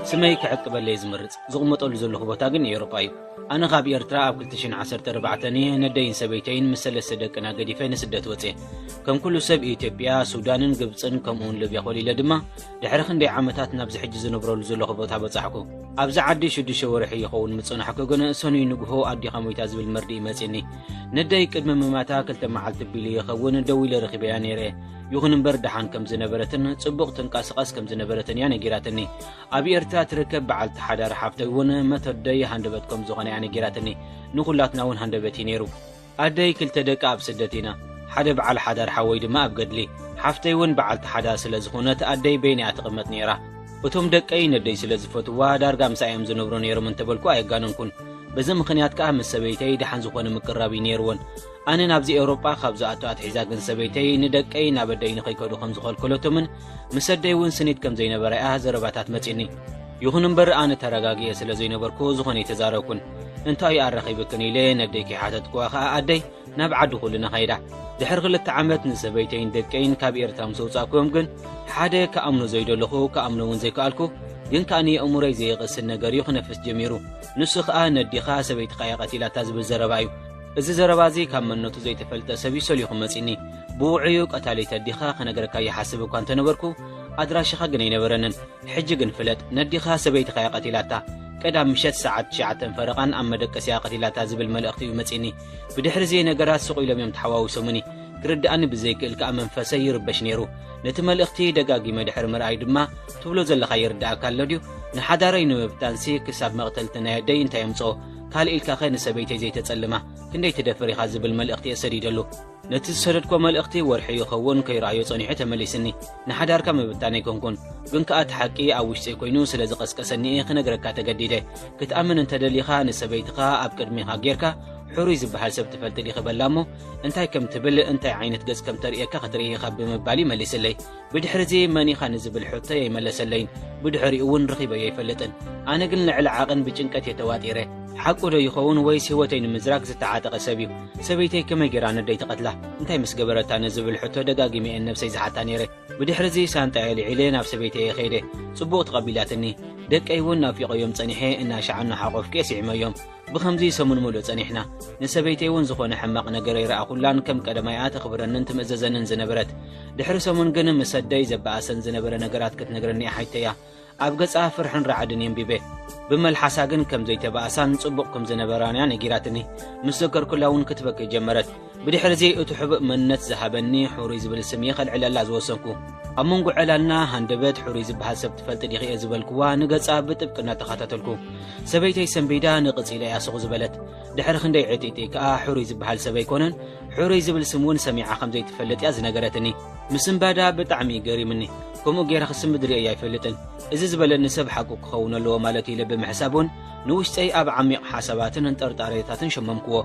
ስመይ ክዕቅበለይ ዝምርጽ ዝቕመጠሉ ዘለኹ ቦታ ግን ኤውሮጳ እዩ ኣነ ካብ ኤርትራ ኣብ 214 እየ ነደይን ሰበይተይን ምስ ሰለስተ ደቅና ገዲፈ ንስደት ወፅየ ከም ኩሉ ሰብ ኢትዮጵያ ሱዳንን ግብፅን ከምኡውን ልብያ ኮሊለ ድማ ድሕሪ ክንደይ ዓመታት ናብዚ ሕጂ ዝነብረሉ ዘለኹ ቦታ በጻሕኩ። ኣብዚ ዓዲ ሽዱሽተ ወርሒ ይኸውን ምጽናሕኩ፣ ግን ሰኑይ ንግሆ ኣዴኻ ሞይታ ዝብል መርድእ መጺኒ። ነደይ ቅድሚ ምማታ ክልተ መዓልቲ ቢሉ ይኸውን ደው ኢለ ረኺበያ ነይረ። ይኹን እምበር ደሓን ከም ዝነበረትን ጽቡቕ ትንቀስቐስ ከም ዝነበረትን እያ ነጊራትኒ ኣብ ኤርትራ ትርከብ በዓልቲ ሓዳር ሓፍተይ እውን መተደይ ሃንደበት ከም ዝኾነ እያ ነጊራትኒ ንኹላትና እውን ሃንደበት እዩ ነይሩ ኣደይ ክልተ ደቃ ኣብ ስደት ኢና ሓደ ብዓል ሓዳር ሓወይ ድማ ኣብ ገድሊ ሓፍተይ ውን ብዓልቲ ሓዳር ስለ ዝኮነት ኣደይ በይና እያ ትቅመጥ ነይራ እቶም ደቀይ ነደይ ስለ ዝፈትዋ ዳርጋ ምሳኣ እዮም ዝነብሩ ነይሮም እንተበልኩ ኣየጋነንኩን በዚ ምክንያት ከኣ ምስ ሰበይተይ ደሓን ዝኮነ ምቅርራብ እዩ ነይርወን ኣነ ናብዚ ኤውሮጳ ካብ ዝኣቱ ኣትሒዛ ግን ሰበይተይ ንደቀይ ናብ ኣደይ ንከይከዱ ከም ዝከልከለቶምን ምስ ኣደይ ውን ስኒት ከም ዘይነበራ እያ ዘረባታት መጺኒ ይኩን እምበር ኣነ ተረጋጊኤ ስለ ዘይነበርኩ ዝኮነ ኣይተዛረብኩን እንታይ እዩ ኣረኺብክን ኢለ ነደይ ከይሓተትክዋ ኸኣ ኣደይ ናብ ዓዲ ኹልና ኸይዳ ድሕሪ ክልተ ዓመት ንሰበይተይን ደቀይን ካብ ኤርትራ ምስ ኣውጻእክዎም ግን ሓደ ክኣምኖ ዘይደለኹ ክኣምኖ እውን ዘይከኣልኩ ግን ከኣ ንየእምሮይ ዘይቕስን ነገር እዩ ክነፍስ ጀሚሩ ንሱ ኸኣ ነዲኻ ሰበይትኻ እየ ቐቲላታ ዝብል ዘረባ እዩ እዚ ዘረባ እዚ ካብ መነቱ ዘይተፈልጠ ሰብ እዩ ሰሊኹ መጺኒ ብውዑዩ ቀታሊት ኣዲኻ ክነገረካ ይሓስብ እኳ እንተነበርኩ ኣድራሽኻ ግን ኣይነበረንን ሕጂ ግን ፍለጥ ነዲኻ ሰበይትኻ'ያ ቀቲላታ፣ ቀዳም ምሸት ሰዓት ትሽዓተን ፈረቓን ኣብ መደቀሲኣ ቀቲላታ ዝብል መልእኽቲ'ዩ መጺእኒ። ብድሕሪ'ዚ ነገራት ስቕ ኢሎም'ዮም ተሓዋዊሶሙኒ። ክርድኣኒ ብዘይክእል ከኣ መንፈሰይ ይርበሽ ነይሩ። ነቲ መልእኽቲ ደጋጊመ ድሕሪ ምርኣይ ድማ፣ ትብሎ ዘለኻ ይርድኣካ ኣሎ ድዩ? ንሓዳረይ ንምብታንሲ ክሳብ መቕተልቲ ናይ ኣደይ እንታይ ኣምጽኦ? ካልእ ኢልካኸ ንሰበይተይ ዘይተጸልማ? ክንደይ ትደፍር ኢኻ? ዝብል መልእኽቲ'የ ሰዲደሉ። ነቲ ዝሰደድክዎ መልእኽቲ ወርሒ ይኸውን ከይረኣዮ ጸኒሑ ተመሊስኒ። ንሓዳርካ ምብታን ኣይኮንኩን፣ ግን ከኣ እቲ ሓቂ ኣብ ውሽጠይ ኮይኑ ስለ ዝቐስቀሰኒ እየ ክነግረካ ተገዲደ። ክትኣምን እንተ ደሊኻ ንሰበይትኻ ኣብ ቅድሜኻ ጌርካ ሕሩይ ዝበሃል ሰብ ትፈልጢ ዲኺ በላ እሞ እንታይ ከም ትብል እንታይ ዓይነት ገጽ ከም ተርእየካ ክትርኢ ኢኻ ብምባል'ዩ መሊስለይ። ብድሕሪዚ መን ኢኻ ንዝብል ሕቶይ ኣይመለሰለይን፣ ብድሕሪኡ እውን ርኺበዮ ኣይፈልጥን። ኣነ ግን ልዕሊ ዓቕን ብጭንቀት እየ ተዋጢረ። ሓቁ ዶ ይኸውን ወይስ ህይወተይ ንምዝራግ ዝተዓጠቐ ሰብ እዩ? ሰበይተይ ከመይ ገይራ ነደይ ትቐትላ? እንታይ ምስ ገበረታ? ንዝብል ሕቶ ደጋጊመ እየ ንነብሰይ ዝሓታ ነይረ። ብድሕሪዚ ሳንጣይ ኣልዒለ ናብ ሰበይተይ እየ ከይደ። ጽቡቕ ተቐቢላትኒ። ደቀይ እውን ናፊቐዮም ጸኒሐ እናሻዕ እናሓቖፍኩ እየ ስዒመዮም። ብኸምዚ ሰሙን ምሉእ ጸኒሕና። ንሰበይተይ እውን ዝኾነ ሕማቕ ነገር ኣይረኣኹላን፣ ከም ቀደማይ እያ ተኽብረንን ትምእዘዘንን ዝነበረት። ድሕሪ ሰሙን ግን ምስ ኣደይ ዘበኣሰን ዝነበረ ነገራት ክትነግረኒ እያ ሓይተያ። ኣብ ገጻ ፍርሕን ራዕድን የንቢበ ብመልሓሳ ግን ከም ዘይተባእሳን ጽቡቕ ከም ዝነበራን እያ ነጊራትኒ ምስ ዘከርኩላ እውን ክትበኪ ጀመረት ብድሕርዚ እቲ ሕቡእ መንነት ዝሃበኒ ሕሩይ ዝብል ስም እየ ከልዕለላ ዝወሰንኩ። ኣብ መንጎ ዕላልና ሃንደበት ሕሩይ ዝበሃል ሰብ ትፈልጢ ዲኺ እየ ዝበልክዋ ንገጻ ብጥብቂ እናተኸታተልኩ። ሰበይተይ ሰንቢዳ ንቕጽ ኢለ እያ ስቕ ዝበለት። ድሕሪ ክንደይ ዕጥይጥይ ከኣ ሕሩይ ዝበሃል ሰብ ኣይኮነን ሕሩይ ዝብል ስም እውን ሰሚዓ ከም ዘይትፈልጥ እያ ዝነገረትኒ። ምስንባዳ ብጣዕሚ እዩ ገሪምኒ። ከምኡ ገይረ ክስምብድ ርእየዮ ኣይፈልጥን። እዚ ዝበለኒ ሰብ ሓቁ ክኸውን ኣለዎ ማለት እዩ ኢለ ብምሕሳብ እውን ንውሽጠይ ኣብ ዓሚቕ ሓሳባትን ንጠርጣሬታትን ሸመምክዎ።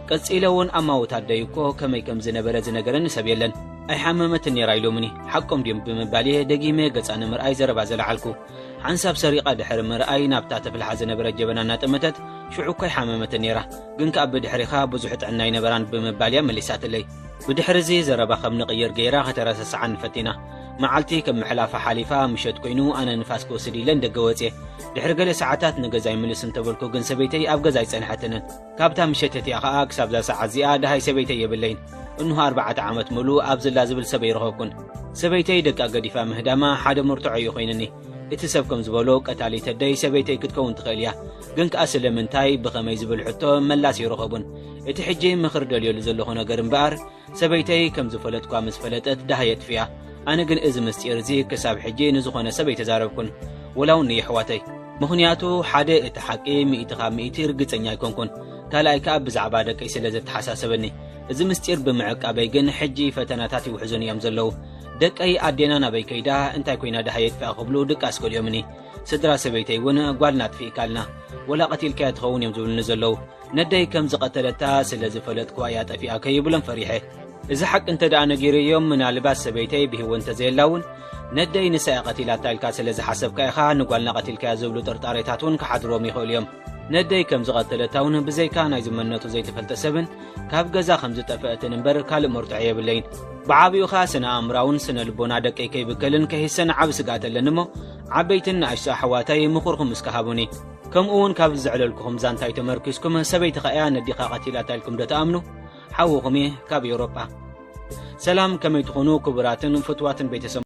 ቀጺለ ውን ኣማውት ኣደይ እኮ ከመይ ከም ዝነበረ ዝነገረኒ ሰብ የለን ኣይሓመመትን ኔራ ኢሎምኒ ሓቆም ድዮም ብምባል እየ ደጊመ ገጻ ንምርኣይ ዘረባ ዘለዓልኩ ሓንሳብ ሰሪቓ ድሕሪ ምርኣይ ናብታ ተፍልሓ ዝነበረት ጀበና እናጠመተት ሽዑ እኳ ኣይሓመመትን ኔራ ግን ከኣ ብድሕሪኻ ብዙሕ ጥዕና ኣይነበራን ብምባል እያ መሊሳትለይ ብድሕሪ እዚ ዘረባ ከም ንቕይር ገይራ ከተረሰስዓኒ ፈቲና መዓልቲ ከም ምሕላፋ ሓሊፋ ምሸት ኮይኑ ኣነ ንፋስ ክወስድ ኢለን ደገ ወጽየ ድሕሪ ገለ ሰዓታት ንገዛይ ምልስ እንተበልኩ ግን ሰበይተይ ኣብ ገዛ ኣይጸንሐትንን ካብታ ምሸት እቲኣ ኸኣ ክሳብዛ ሰዓት እዚኣ ደሃይ ሰበይተይ የብለይን። እንሆ ኣርባዕተ ዓመት ምሉእ ኣብ ዝላ ዝብል ሰብ ኣይረኸብኩን። ሰበይተይ ደቃ ገዲፋ ምህዳማ ሓደ መርትዖ እዩ ኮይንኒ። እቲ ሰብ ከም ዝበሎ ቀታሊት ኣደይ ሰበይተይ ክትከውን ትኽእል እያ። ግን ከኣ ስለምንታይ፣ ብኸመይ ዝብል ሕቶ መላስ ኣይረኸቡን። እቲ ሕጂ ምኽሪ ደልየሉ ዘለኹ ነገር እምበኣር፣ ሰበይተይ ከም ዝፈለጥኳ ምስ ፈለጠት ደሃይ የጥፍያ። ኣነ ግን እዚ ምስጢር እዚ ክሳብ ሕጂ ንዝኾነ ሰብ ኣይተዛረብኩን፣ ወላ ውን ንየሕዋተይ። ምኽንያቱ ሓደ እቲ ሓቂ ሚእቲ ካብ ሚእቲ ርግጸኛ ኣይኮንኩን፣ ካልኣይ ከኣ ብዛዕባ ደቀይ ስለ ዘተሓሳሰበኒ። እዚ ምስጢር ብምዕቃበይ ግን ሕጂ ፈተናታት ይውሕዙኒ እዮም ዘለዉ። ደቀይ ኣዴና ናበይ ከይዳ እንታይ ኮይና ደሃይ የጥፍያ ክብሉ ድቃስ ከሊኦምኒ። ስድራ ሰበይተይ ውን ጓልና ኣጥፊእካልና፣ ወላ ቀቲልካያ ትኸውን እዮም ዝብሉኒ ዘለዉ። ነደይ ከም ዝቐተለታ ስለ ዝፈለጥኩ ኣያ ጠፊኣ ከይብሎም ፈሪሐ እዚ ሓቂ እንተ ደኣ ነጊሩ እዮም ምናልባት ሰበይተይ ብህይወት እንተ ዘየላ እውን ነደይ ንሳ እያ ቀቲላታ ኢልካ ስለ ዝሓሰብካ ኢኻ ንጓልና ቀቲልካያ ዝብሉ ጥርጣሬታት እውን ክሓድሮም ይኽእሉ እዮም ነደይ ከም ዝቐተለታ እውን ብዘይካ ናይ ዝመነቱ ዘይተፈልጠ ሰብን ካብ ገዛ ከም ዝጠፍአትን እምበር ካልእ መርትዖ የብለይን ብዓብኡ ኸኣ ስነ ኣእምራውን ስነ ልቦና ደቀይ ከይብከልን ከይሰን ዓብ ስግኣት ኣለኒ እሞ ዓበይትን ንኣሽቶ ኣሕዋተይ ምኹርኩም እስከ ሃቡኒ ከምኡ ውን ካብዚ ዘዕለልኩኹም ዛንታይ ተመርኲስኩም ሰበይትኻ እያ ነዲኻ ቀቲላታ ኢልኩም ዶ ትኣምኑ? ሓውኹም እየ ካብ ኤውሮጳ። ሰላም ከመይ ትኹኑ ክቡራትን ፍትዋትን ቤተሰብ።